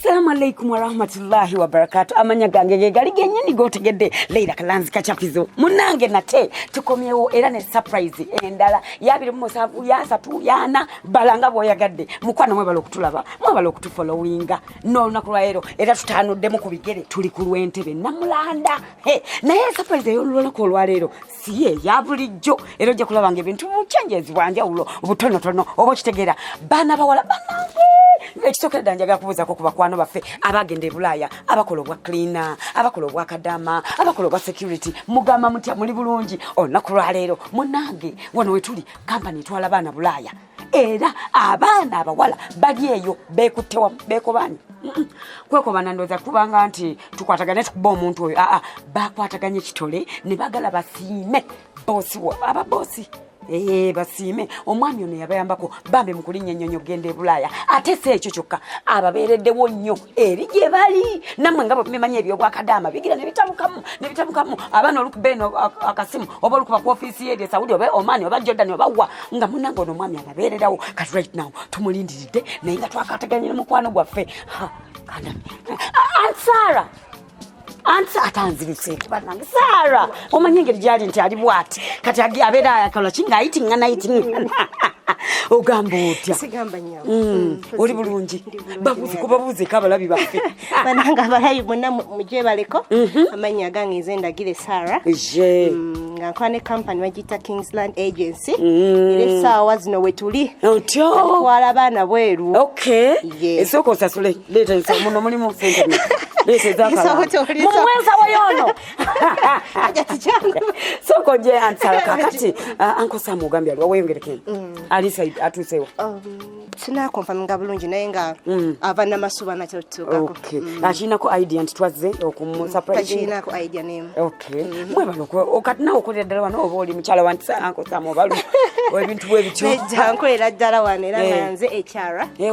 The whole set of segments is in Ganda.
Assalamu alaikum warahmatullahi wabarakatu amanya gange gegali genyini gotegedde Leila Kalanzi Kachapizo munange nate tukomyewo era ne surprise endala yabiri musanvu yasatu yana balanga bwoyagadde mukwano mwebala okutulaba mwebala okutufollowinga n'olunaku lwaleero era tutanuddemu ku bigere tuli ku lwentebe namulanda naye surprise ey'olunaku olwaleero siye ya bulijjo era ojja kulaba nga ebintu buchenjezi bwanjawulo obutonotono oba okitegeera baana bawala banange ekisokera ddala njagala kubuuzako ku bakwano baffe abagenda e bulaaya abakola obwa cleana abakola obwa kadama abakola obwa security mugamba mutya muli bulungi olunaku lwaleero munange wano wetuli kampani etwala baana bulaaya era abaana abawala bali eyo bekutte wamu bekobaanye kwekobana ndoza kubanga nti tukwatagane tukuba omuntu oyo aa bakwataganye kitole ne bagala basiime boosi aba boosi ee basiime omwami ono yabayambako bambi mukulinnya ennyonyi okugenda e bulaaya ate si ekyo kyokka ababeereddewo nnyo eri gye bali nammwe nga bwemumanyi ebyobwakadaama bigira nebitabukamu nebitabukamu abaana olukuba eno akasimu oba olukuba ku ofiisi ye esaudi oba omani oba jordan oba wa nga munange ono omwami anabeererawo kati right now tumulindiridde naye nga twakateganye ne mukwano gwaffe ansara anti atanzirise banange sara omanyi engeri gyali nti ali bwati kati abeera ayakola ki ngaayitingana yitingana ogamba otya mm. mm. oli bulungi babuuzi kubabuuzeko abalabi baffe banange abalabi bonna mujebaleko mhm. amannya agange nze ndagire sara mm, nga nkola ne kampany bagiyita kingsland agency era essaawa zino wetuli otyo twala abaana bweru esooka osasule Leta nsa muno mulimu sente muno. Leta ezakala. Mumwenza wayono. Soko je ansala kakati ah, anko samu gambi aliwa weyongerekeni. Mm. Alisa atusewa. Um, Sina konfaminga bulungi naye nga mm. ava namasuba nakyo tutuukako. Okay. Mm. Akinako idea nti twazze okumu surprise. Akinako idea name. Okay. Mm-hmm. Mwe bano ko kati nawe okolera ddala wano oba oli mukyala wa nti anko samu obalu. Ebintu bwe bityo. Nejja nkolera ddala wano era eh. nga nze ekyara. Eh,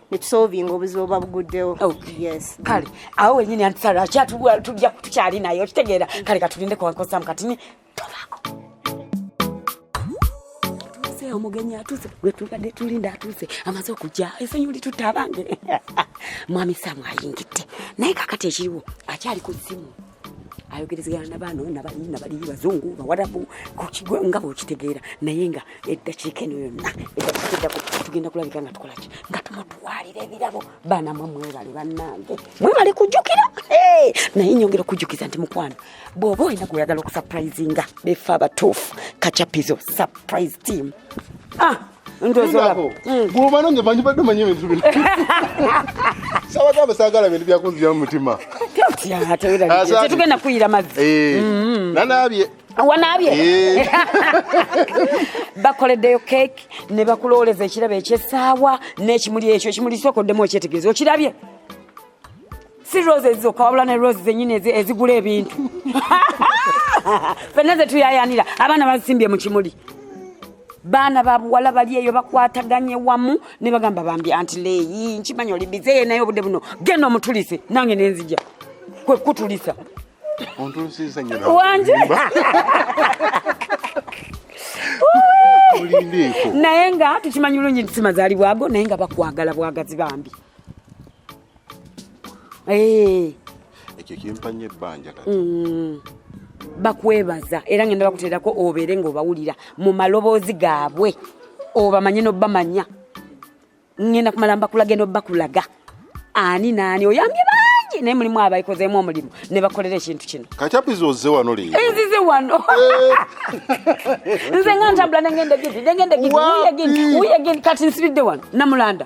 netusolvinga obuzibu oba buguddewo oh. yes kale awo wenyini antisala kyatujja tukyali naye okitegeera kale katulinde kuwankosamu kati ni tovako naye omugenyi atuuse gwetubadde tulinda atuuse amaze okujja esonyi litutta abange mwami samu ayingidde naye kakati ekiriwo akyali ku ssimu ayogerezegana nabaano nabali nabali bazungu bawarabu nga bwokitegeera naye nga eddakiika eno yonna eddakiikaeddako tugenda kulabika nga tukolaki nga tumutwalira ebirabo baana mwe mwebale bannange mwebale kujjukira naye nyongera okujjukiza nti mukwano bw'oba olina gweoyagala okusaprayizinga befe abatuufu kacapizo surprise team ah! gulumano nze manyi badde manyi ebintu bino sabagamba sagala bintu byakunzira mu mutima tetugenda kuyira mazzi eh, mm-hmm. nanaabye wanaabye eh. bakoleddeyo keeki ne bakulooleza ekirabo ekyesaawa n'ekimuli ekyo ekimuli sokoddemu okyetegereza okirabye si rose zokka wabula ne rose zenyini ezigula ebintu fenna zetuyayanira abaana bazisimbye mu kimuli baana babuwala bali eyo bakwataganye wamu ne bagamba bambi anti leeyi nkimanyi oli bizeye naye obudde buno genda omutulise nange nenzija kwe kutulisa wanje naye nga tukimanyi bulungi nti simazaalibwago naye nga bakwagala bwagazi bambi Eh. ekyo kimpa nnyo ebbanja kati Mm. bakwebaza era ngenda bakuteerako obeere ng'obawulira mu maloboozi gaabwe obamanye n'obamanya ngenda kumala mbakulage n'obakulaga ani naani oyambye bangi naye mulimu abaikozeemu omulimu ne bakolera ekintu kino kati apiza ozze wano leero enzize wano nze nga ntambula nengenda gidi nengenda gidi Wapi? wuyegini wuyegini kati nsibidde wano namulanda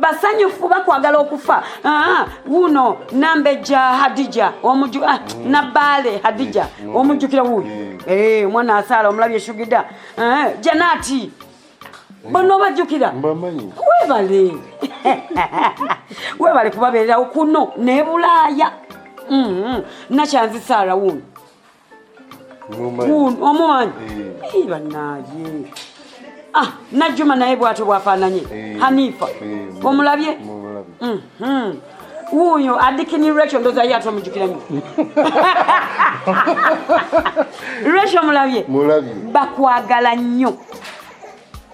basanyufu bakwagala okufa ah, wuno nambejja hadija omuju ah, mm. nabaale hadija mm. Mm. omujjukira wuyo eh, omwana asaala omulabi eshugida ah, janati bona obajjukira webale webale kubabeererawo kuno nebulaaya mm-hmm. nakyanzi saala wuno omumanyi eh. banaye ah, najjuma naye bwatyo bwafaananye eh. hanifa eh, omulabye mhm. wuuyo adikini recho ndoza ye ate omujukiramu recho omulabye bakwagala nnyo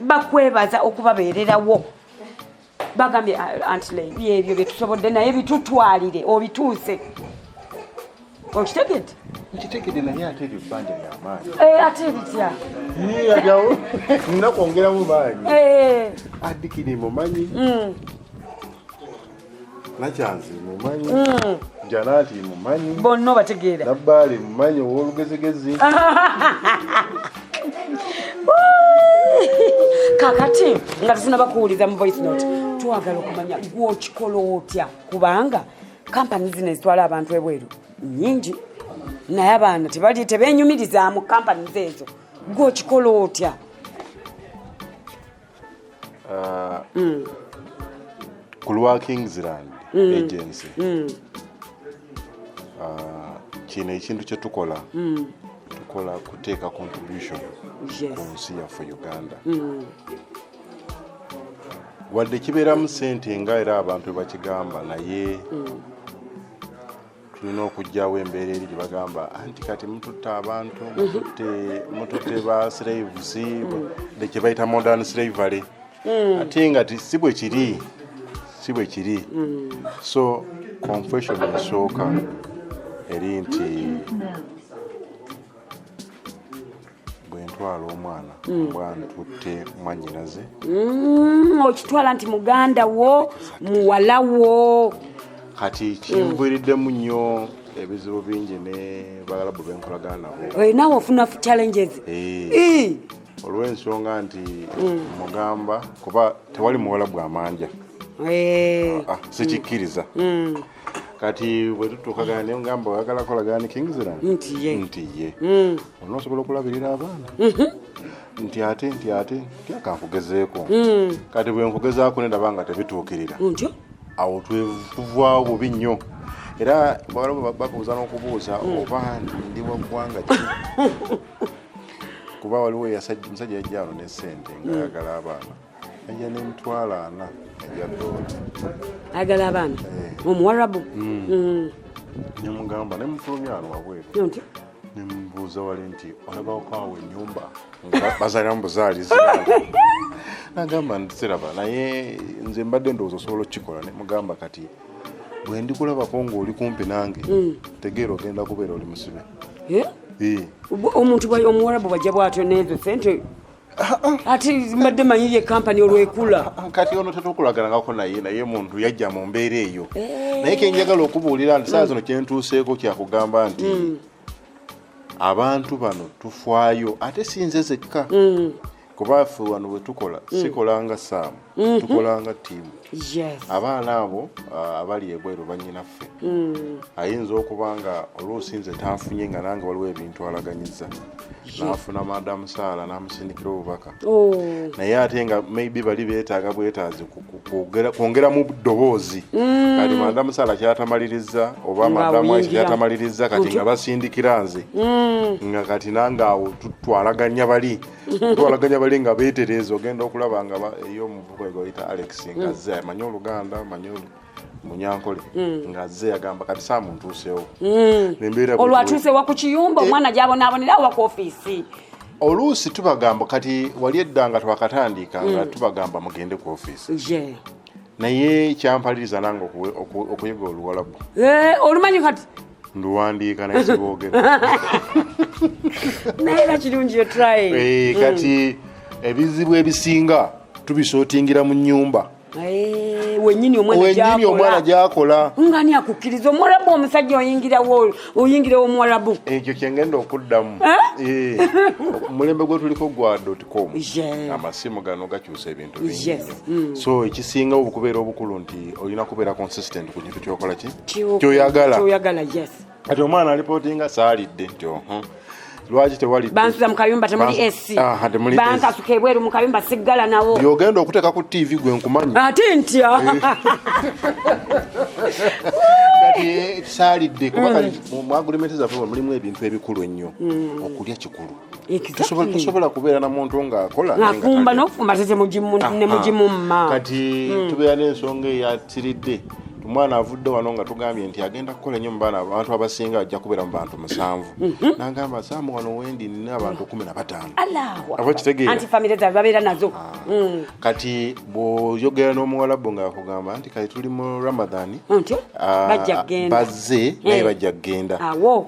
bakwebaza okubabeererawo bagambye ah, antley byebyo byetusobodde naye bitutwalire obituuse okitegedde nkitegedde naye ate ebyo bbanja lyamaanyi eh, ate bitya yagawo nina kwongeramu maanyi eh. adikini mumanyi mm. nakyanzi mumanyi mm. janaati mumanyi bonna obategeera nabbaali mumanyi owolugezigezi kakati nga tusinaba kuwuliza mu voice note twagala okumanya gwokikola otya kubanga kampani zino ezitwala abantu ebweru nyingi naye abaana tebali tebenyumiriza mu kampani zeezo gwokikola otya ah, mm. ku lwa kingsland mm. agency mm. Ah, kino ekintu kyetukola mm. tukola kuteeka contribution yes. ku nsi yaffe uganda mm. wadde kibeeramu sente nga era abantu bakigamba naye mm. tulina okugyawo embeera eri gye bagamba anti kati mututte abantu mututte ba slaves mm. kye bayita modern slavery mm. ate nga si bwe kiri si bwe kiri mm. so confession esooka eri nti bwentwala omwana mm. oba ntutte mwanyinaze mm, okitwala nti muganda wo muwala wo kati kinviriddemu nnyo ebizibu bingi ne bagalabu benkolagana nabo eh, nawe ofuna challenges eh. Eh. olw'ensonga nti mm. mugamba kuba tewali muwala bwamanja ah, ah, sikikkiriza kati bwetutuukagana naye ngamba oyagala kolagana ne kingziland nti ye nti ye mm. olina osobola okulabirira abaana mhm. nti ate nti ate nti akankugezeeko mm. kati bwenkugezaako nendaba nga tebituukirira awo tuvaawo bubi nnyo era bawala bakubuuza n'okubuuza mm. oba ndi wa ggwanga ki kuba waliwo musajja yajjaano ne sente ngaayagala abaana ejja nemitwalo ana eja dola ayagala abaana eh. omuwarabu hmm. hmm. nemugamba nemufulumya ano wabweru nemubuuza wali nti olabawokaawo enyumba bazaliramu buzaalizi nagamba ntiraba naye nze mbadde ndowooza osobola okukikola nemugamba kati bwe ndikulabako ng'oli kumpi nange hmm. tegeera ogenda kubeera oli musibe eh? omuntu omuwarabu bajja bwatyo nezo sente ati mbadde manyi ye kampani olwekula ah, ah, kati ono tetukulaganangako naye naye muntu yajja mu mbeera eyo eh. naye kenjagala okubuulira nti saa zino kyentuuseeko kyakugamba nti mm. abantu bano tufwayo ate sinze zekka mm. kuba ffe wano wetukola mm. sikolanga saamu mhm. tukolanga tiimu abaana abo uh, abali ebweru banyinaffe mm. ayinza okuba nga oluusi nze tanfunye nga nange waliwo ebintu alaganyiza nafuna madamu saala namusindikira obubaka oh. naye ate nga maybe bali betaaga bwetaazi kwongera mu ddoboozi mm. kati madamu saala kyatamaliriza oba madamu aisha kyatamaliriza kati nga basindikira nze mm. nga kati nange awo tutwalaganya bali twalaganya bali nga beetereeza ogenda okulaba nga eyo omuvuko egwayita alex ngazze mm. amanyi oluganda amanyi munyankole mm. ngazze yagamba kati saa muntuusewo mm. olwatuusewa ku kiyumba eh. omwana gyabonaabonera awa ku ofiisi oluusi tubagamba kati wali edda nga twakatandika nga tubagamba mugende ku ofiisi naye kyampaliriza nange okuyiga oluwalabu eh, olumanyi kati nduwandiika naye siboogera naye era kirungi yotry eh, hmm. kati ebizibu ebisinga tubisootingira mu nyumba eh, wenyini omwana gyakola ngani akukkiriza omuwalabu omusajja oyingirawo oyingirewo omuwalabu ekyo kyengenda okuddamu omulembe gwetuliko gwa dotcom amasimu gano gakyusa ebintu yes. mm. so ekisinga okubeera obukulu nti olina kubeera consistent ku kintu kyokola ki kyoyagala kyoyagala yes kati omwana alipotinga saalidde nti oho lwaki tewali bansuza mukayumba temuli esi bankasuka ebweru mukayumba siggala nawo yogenda okuteeka ku tv gwe nkumanyi ate ntya eh. kati eh, saalidde kuba mm. kali mu agreement zaffe mulimu ebintu ebikulu ennyo mm. okulya kikulu Tosobola- tosobola kubeera na muntu ng'akola naye nga ngafumba talya. nokufumba ate temugimu- Aha. nemugimumma Ah, kati Mm. tubeera n'ensonga eyatiridde omwana avudde wano nga tugambye nti agenda kukola nnyo mu baana abantu abasinga ajja kubeera mu bantu musanvu Mhm. nagamba saamu wano wendi nina abantu kumi na bataano Allahu Oba Akbar. kitegeera. anti famire zaabwe babeera nazo Mm. kati bwoyogera n'omuwalabu nga akugamba nti kati tuli mu ramadan ah, bazze eh. naye bajja kugenda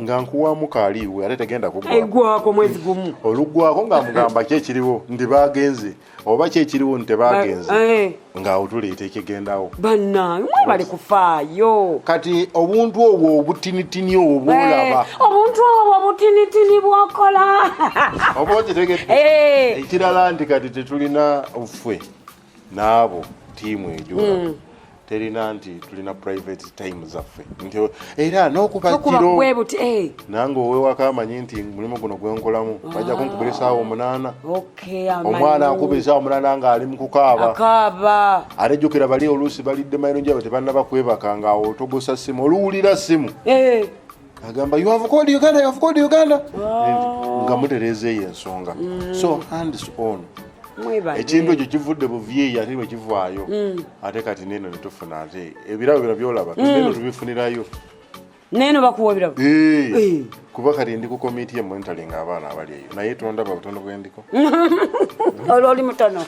nga nkuwamu kaaliiwe ate tegenda kugwako mwezi gumu olugwako nga mugamba ki ekiriwo nti bagenze oba ki ekiriwo nti tebagenze eh. nga otuleeta ekigendawo banange mwebali kufaayo kati obuntu obwo obutinitini obwo eh, bwolaba obuntu obwo obutinitini bwokola oba okitegedde ekirala nti kati tetulina ffe n'abo tiimu ejo mm. terina nti tulina private time zaffe nti era n'okubakiro eh. nange owewako amanyi nti mulimu guno gwenkolamu ah. bajja kunkubira esaawa omunaana omwana akuba esaawa omunaana ng'ali mu kukaaba ate jjukira bali oluusi balidde mayiro njaba tebanna bakwebaka ng'awo togosa ssimu oluwulira ssimu eh. agamba you have called uganda you have called uganda oh. nga mutereeza eyo ensonga mm. so hands on ekintu ekyo kivudde buvyeyi ate bwekivaayo mm. ate kati neno netufuna ate ebirabo bino byolaba mm. neno tubifunirayo neno bakuwa ebirabo kuba kati ndi ku komiti yemonitoring abaana abali eyo naye tondaba butono bwendiko olwo oli mutono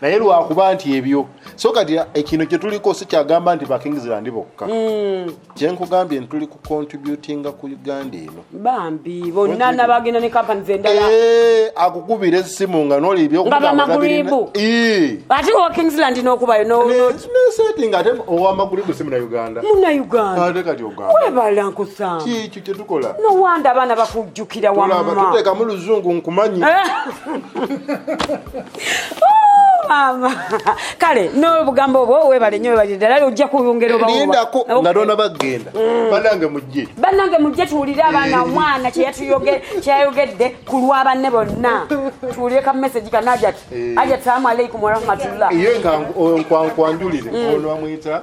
naye lwakuba nti ebyo so kati ekino eh, kyetuliko sikyagamba nti bakingsland bokka hmm. kyenkugambye ntituli ku contributinga ku uganda eno bambi bonna nabagenda ne kampani zendala eh, akukubira esimu nga nolibyoamagribu eh. ate owa kingsland nokubayo noseti nga ate owamagribu si munauganda munauganda kati ogambawebala nkusanga kikyo kyetukola nowanda abaana bakujjukira wamma tuteekamu luzungu nkumanyi maama kale n'obugambo obwo webale nyo webale ddala ojja kuyongera obalindako nga noona bagenda mm. banange mujje banange mujje tuwulire abaana eh. omwana kyeyayogedde ku lwa banne bonna tuwulire ka message ka najat eh. ajat salamu aleikum warahmatullah ye nkwankwanjulire mm. ono amwita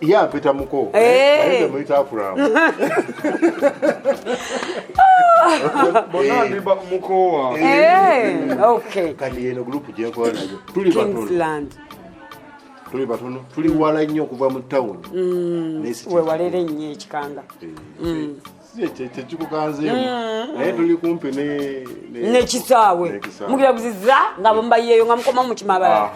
ye apita muko temuyita akulamu kati yeno gulupu gyenkola nayo tuli batono tuli batono tuli wala nnyo okuva mu tawuni mm. wewalere nnyo ekikanga eh, mm. nekisaawe mubyabuzizza nga bambayeyo nga mukoma mukimabala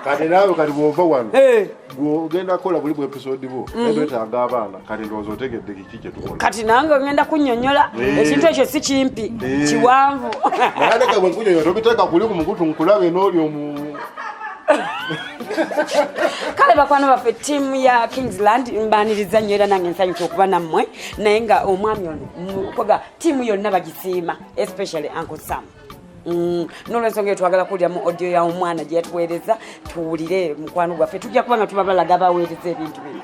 kati naawe kati bwova wano eh. gwogenda kukola buli bwepisodi bwo etwetaaga mhm. abaana kati ndowooza otegedde kiki kyetukola kati nange ogenda kunyonyola eh. ekintu ekyo si kimpi eh. kiwanvu naye ndeka bwenkunyonyola tobiteeka kuli ku mukutu nkulabe nooli omu kale bakwano baffe tiimu ya kingsland mbaniriza nnyo era nange nsanyusa okuba nammwe naye nga omwami ono mukoga tiimu yonna bagisiima especially uncle sam Mm. nolwensonga etwagala kuwulira mu odio ya omwana gyeyatuweereza tuwulire mukwano gwaffe tujja kuba nga tuba balaga baweereza ebintu bino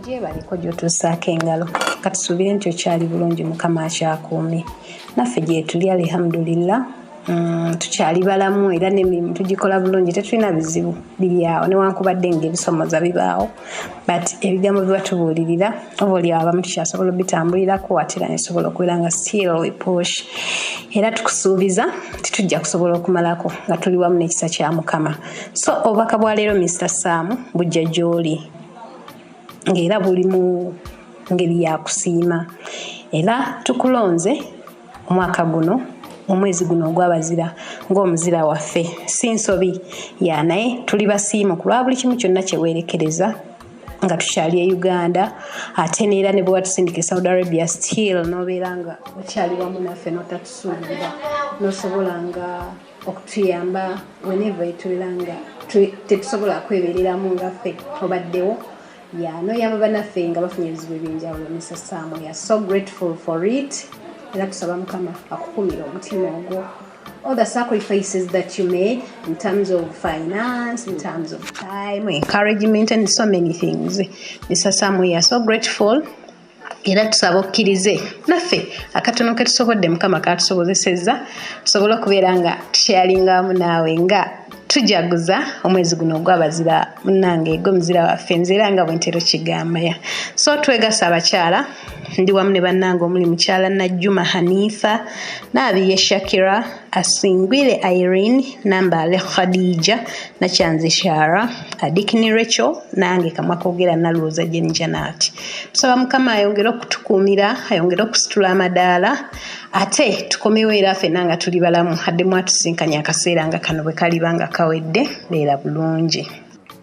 gyebaliko gyotuusaako engalo katusuubire nti okyali bulungi mukama akyakuumi naffe gyetuli alihamdulillah Mm, tukyali balamu era nemirimu tugikola bulungi tetulina bizibu biryawo newankubadde nga ebisomoza bibaawo but ebigambo biba tubuulirira oba olyawo abamu tukyasobola obitambulirako atera nesobola okubeera nga still we push era tukusuubiza titujja kusobola okumalako nga tuli wamu n'ekisa kya mukama so obubaka bwa leero mister saamu bujja gy'oli ng'era buli mu ngeri ya kusiima era tukulonze omwaka guno omwezi guno ogwabazira ng'omuzira waffe si nsobi ya naye tuli basiimu ku lwa buli kimu kyonna kyeweerekereza nga tukyali e uganda ate neera ne bwewatusindika e saudi arabia still nobeera nga okyali wamu naffe notatusuubira nosobola nga okutuyamba weneva etubeera nga tetusobola kwebereramu ngaffe obaddewo ya noyamba banaffe nga bafunye ebizibu ebyenjawulo mr sam we are so grateful for it era tusaba mukama akukumira omutima ogwo all the sacrifices that you made in terms of finance, in terms of time, encouragement, and so many things. Mr. Sam, we are so grateful era tusaba okkirize naffe akatono ke tusobodde mukama katusobozesezza tusobole okubeera nga tusharinga wamu naawe nga tujaguza omwezi guno ogwabazira munange gwe muzira waffe nzeera nga bwentero kigambaya so twegasa abakyala ndi wamu ne bannange omuli mukyala najjuma hanifa naabiye shakira Asingwile Irene, Nambale Khadija, Nakyanzi Shara, Adikini Rachel nange kamwa kogera nalwooza Jane Janat. Tusaba Mukama ayongere okutukuumira, ayongere okusitula amadaala ate tukomewo era fenna nga tuli balamu addemu atusinkanye akaseera nga kano bwe kaliba nga kawedde beera bulungi.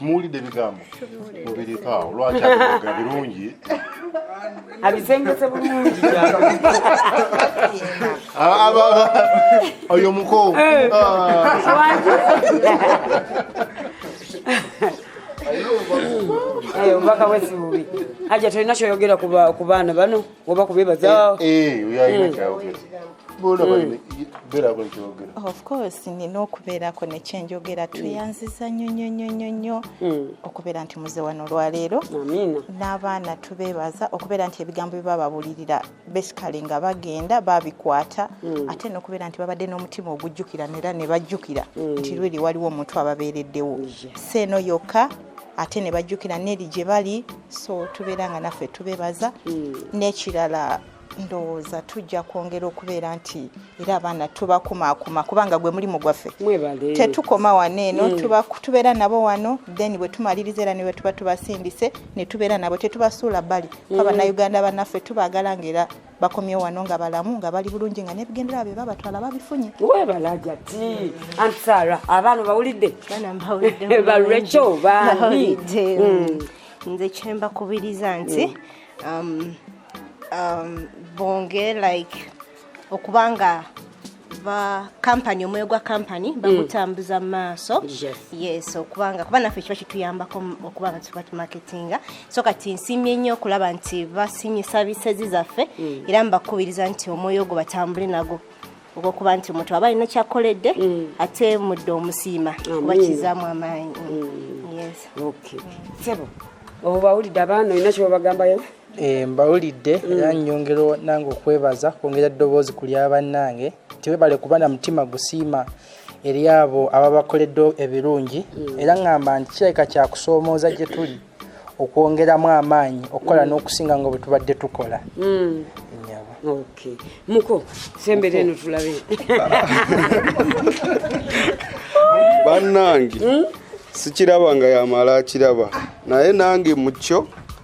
muwulidde ebigambo mubirikaawo lwaki abiga birungi abisengese bulungi ah, oyo muko eh. ah. eh, obubaka bwesibubi aja tolina kyoyogera ku baana bano oba kubebaza eh, eh, yalina kyayogera nina okubeerako nekyenjogera mm. tweyanziza nyo nyo nyo nyo nyo mm. okubeera nti muze wano olwaleero n'abaana tubeebaza okubeera nti ebigambo bye bababulirira basically nga bagenda babikwata mm. ate nokubeera nti babadde n'omutima ogujjukira nera ne bajjukira nti lweri waliwo omuntu ababeereddewo si eno yokka ate ne bajjukira neri gye bali so tubeera nga naffe tubebaza hmm. n'ekirala ndowooza tujja kwongera okubeera nti era abaana tubakumaakuma kubanga gwe mulimu gwaffe tetukoma wano eno hmm. tubeera nabo wano then bwe tumaliriza era newe tuba tubasindise ne tubeera nabo tetubasuula bbali kuba hmm. bannayuganda banaffe tubagala ngaera bakomye wano nga balamu nga bali bulungi nga nebigendera bye babatwala babifunye webalaja ti anti sara abaana bawulidde balwekyo bani hmm. nze kyembakubiriza nti hmm. um, um, bonge like okubanga ba kampani omwoyo gwa kampani mm. bagutambuza mu maaso yes okubanga kuba naffe kiba kituyambako okuba nga tuba tumaketinga so kati nsimye nnyo okulaba nti basimye sabisezi zaffe mm. era mbakubiriza nti omwoyo ogwo batambule nago ogwokuba nti omuntu aba alina kyakoledde mm. ate mudde omusiima kuba kizaamu amaanyi sebo obawulidde abaana olina kyebabagambayo Eh, mbawulidde mm. era nyongera nange okwebaza kwongera eddoboozi ku lya bannange nti webale kuba na mutima gusiima eri abo ababakoledde ebirungi mm. era ŋŋamba nti kirabika kyakusoomooza gye tuli okwongeramu amaanyi okukola mm. n'okusinga nga bwe tubadde tukola muko sembere eno tulabe bannange hmm? sikiraba nga yamala akiraba naye nange mukyo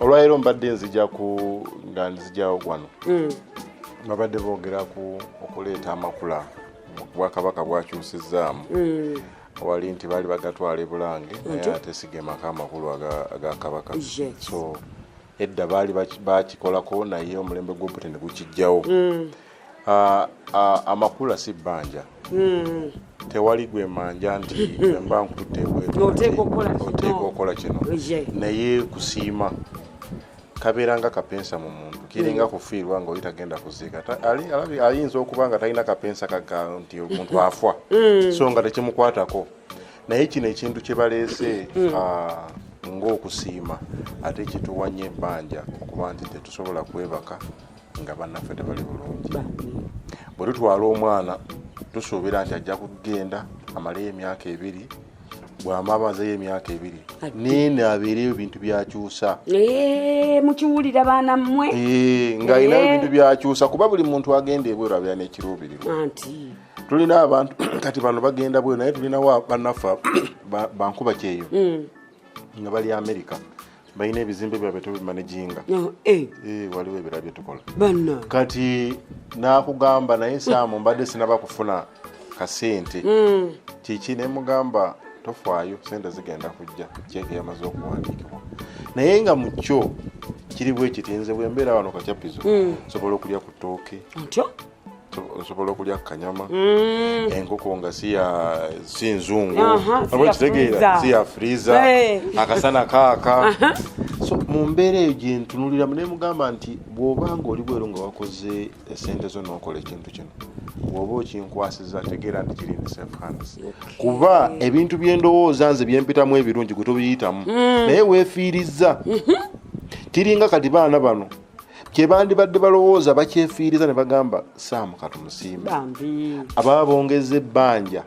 olwaleero mbadde nzija ku nga nzijawo wano mm. babadde boogera ku okuleeta amakula obwakabaka bwakyusizaamu mm. wali nti baali bagatwala ebulange naye ate sigemako amakulu aga kabaka so edda baali bakikolako naye omulembe gwobute ne gukijjawo mm. Ah, ah, amakula si bbanja hmm. tewali gwe manja nti mba nkuteoteeka okukola kino naye kusiima kabeera nga kapensa mu muntu kiringa hmm. kufiirwa nga oli tagenda kuziika ayinza okuba nga talina kapensa kaga nti omuntu afwa hmm. so nga tekimukwatako naye kino ekintu kyebaleese ah, ngaokusiima ate kituwanya ebbanja okuba nti tetusobola kwebaka nga bannaffe tebali bulungi bwe tutwala omwana tusuubira nti ajja kugenda amaleyo emyaka ebiri bwamabazeyo emyaka ebiri nene abeereyo ebintu byakyusa eh, mukiwulira baana mmwe eh, nga alinayo eh. ebintu byakyusa kuba buli muntu agenda ebweru abeera nekiruubirirwa tulina abantu kati bano bagenda bweru naye tulinawo bannaffe bankuba kyeyo mm. nga bali amerika balina ebizimbe byabwe tebimanaginga no, eh. eh, waliwo ebirala byetukola kati nakugamba naye saamu mbadde sinaba kufuna kasente mm. kiki nemugamba tofaayo sente zigenda kujja kyeke yamaze okuwandiikibwa naye nga mukyo kiri bwekiti nze bwembeera wano kakyapizo mm. nsobola okulya ku tooke osobola okulya kanyama mm. enkoko nga si nzungu kitegeera si ya friza akasana kaaka so mu mbeera eyo gyentunuliramu naye mugamba nti bw'oba nga oli bweru nga wakoze esente zo nokola ekintu kino bw'oba okinkwasiza tegeera nti kiri in safe hands kuba ebintu byendowooza nze byempitamu ebirungi gwe tobiyitamu mm. naye weefiirizza mm-hmm. kiringa kati baana bano kyebandibadde balowooza bakyefiiriza ne bagamba saamu katumusiime ababa bongeza ebbanja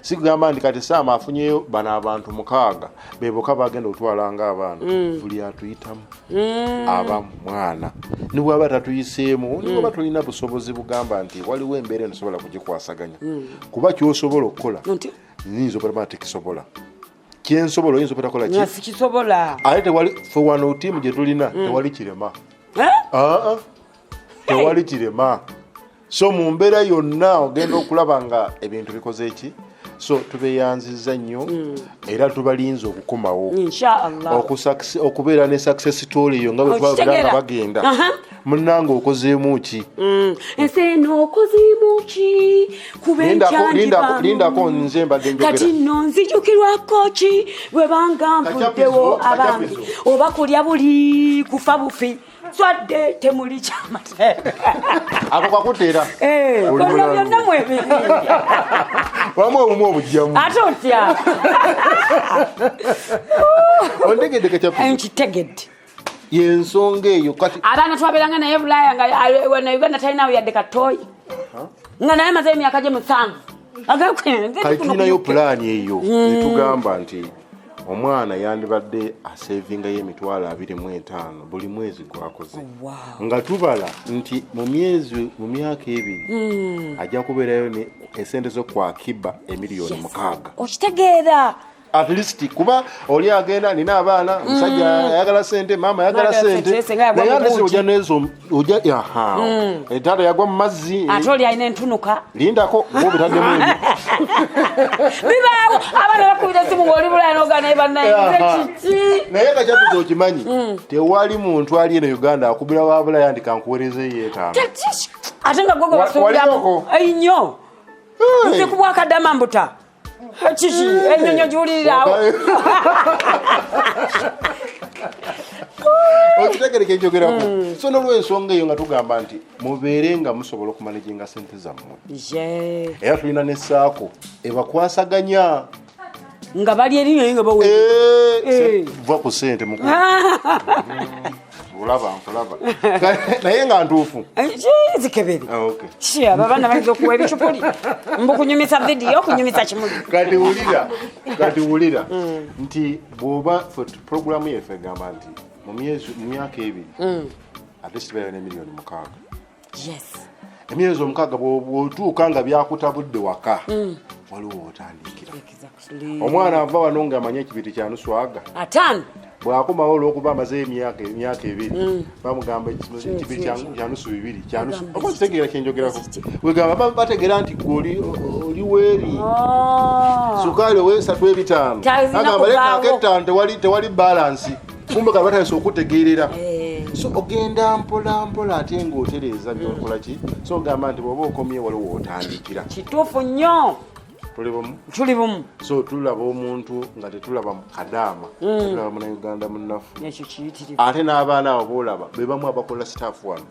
sikugamba nti kati saamu afunyeyo bano abantu mukaaga beboka bagenda okutwala nga abaana mm. buli atuyitamu mm. aba mwana nibwaba tatuyiseemu mm. nibwaba tulina busobozi bugamba nti waliwo embeera enosobola kugikwasaganya kuba kyosobola okukola nyinza okulaba nti kisobola kyensobola oyinza obutakola ki nga sikisobola ate tewali fe wano tiimu gye tulina Mm. tewali kirema Eh? Aa, tewali kirema so mu mbeera yonna ogenda okulaba nga ebintu bikoze eki so tubeyanziza nnyo Mm. era tubalinze okukomawo inshaallah Okusakse- okubeera ne success story yo nga bwe twabera nga Okitegera? bagenda Aha. munange okozeemu ki mm. ensi eno okozeemu ki kubenlindako nze mbadde kati no nzijukirwako ki bwe banga nvuddewo abange oba kulya buli kufa bufi swadde temuli kyamaako kakutera eh, olwo byonna mwebiri wamu obumu obujjamu ate otya ontegedde kakyakitegedde yensonga eyo kati abaana twaberanga naye bulaya nga na uganda talinawo yadde katoyi nga naye maze emyaka gye musanvu tulinayo pulaani eyo hmm. etugamba nti omwana yandibadde asevingayo emitwalo abiri mu etaano buli mwezi gwakoze oh, nga tubala nti mu myezi mu myaka ebiri hmm. ajja kubeerayo esente zo kwakiba emiliyoni mukaaga okitegeera at least kuba oli agenda alina abaana omusajja mm. ayagala sente maama ayagala sente naye alesi oja nezo oja aha mm. etaata yagwa mu mazzi ate oli alina entunuka lindako oba obitaddemu bibaawo abaana bakubira esimu ngaoli bulaya noga naye bannayekiki naye nga kyatuza okimanyi mm. tewali muntu ali eno uganda akubira wa bulaya ndi kankuwerezeyo etaano ate nga gogo basuubiramu nnyo nze kubwakadama mbuta kiki enyonyo giwulirirawo okitegereka ekyogerako hmm. so nolwensonga eyo nga tugamba nti mubeere nga musobola okumanaginga sente zammwe era tulina nesaako ebakwasaganya nga bali erinyo nga bawe eh, eh. va ku sente mukulu olaba nkulaba naye nga ntuufu eh, zikebere ah, abo abaana bayinza okuwa ebicupuli mbu kunyumisa vidiyo kunyumisa kimuli kati wulira kati wulira mm. nti bwoba programu yeffe egamba nti mu myaka ebiri mm. ate sibeera ne miliyoni mukaaga emyezi omukaaga bwotuuka nga byakutabudde waka mm. waliwo otandikira omwana ava wano nga amanye ekibiti kyanuswaga bwakomawo olwokuba amaze emyaka emyaka ebiri mm. bamugamba ekibi kyanusu bibiri oba kitegeera kyenjogerako wegamba bategeera nti gwe oli weeri ah. sukaali owesatu ebitaano agamba lekaako ettaano tewali balansi kumbe kati batandise okutegeerera eh. so ogenda mpola mpola ate ngaotereeza byokola ki so ogamba nti bwoba okomye waliwo otandikira kituufu nnyo tuli bumu so tulaba omuntu nga tetulaba mukadaama mm. tulaba munauganda munafu ate n'abaana abo boolaba bebamu abakola staff wano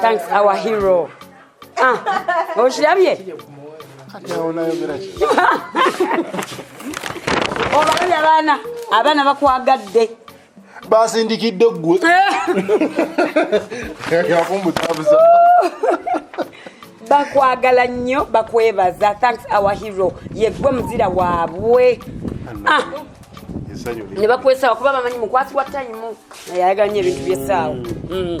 thanks our hero ah, okirabye obalabye abaana abaana bakwagadde basindikidde ggwe yakumbutabuza bakwagala nnyo bakwebaza thanks our hero yeggwe muzira waabwe ah. ne bakwesaawa kuba bamanyi mukwasi wa tayimu naye ayagala nyo ebintu byesaawa mm. mm.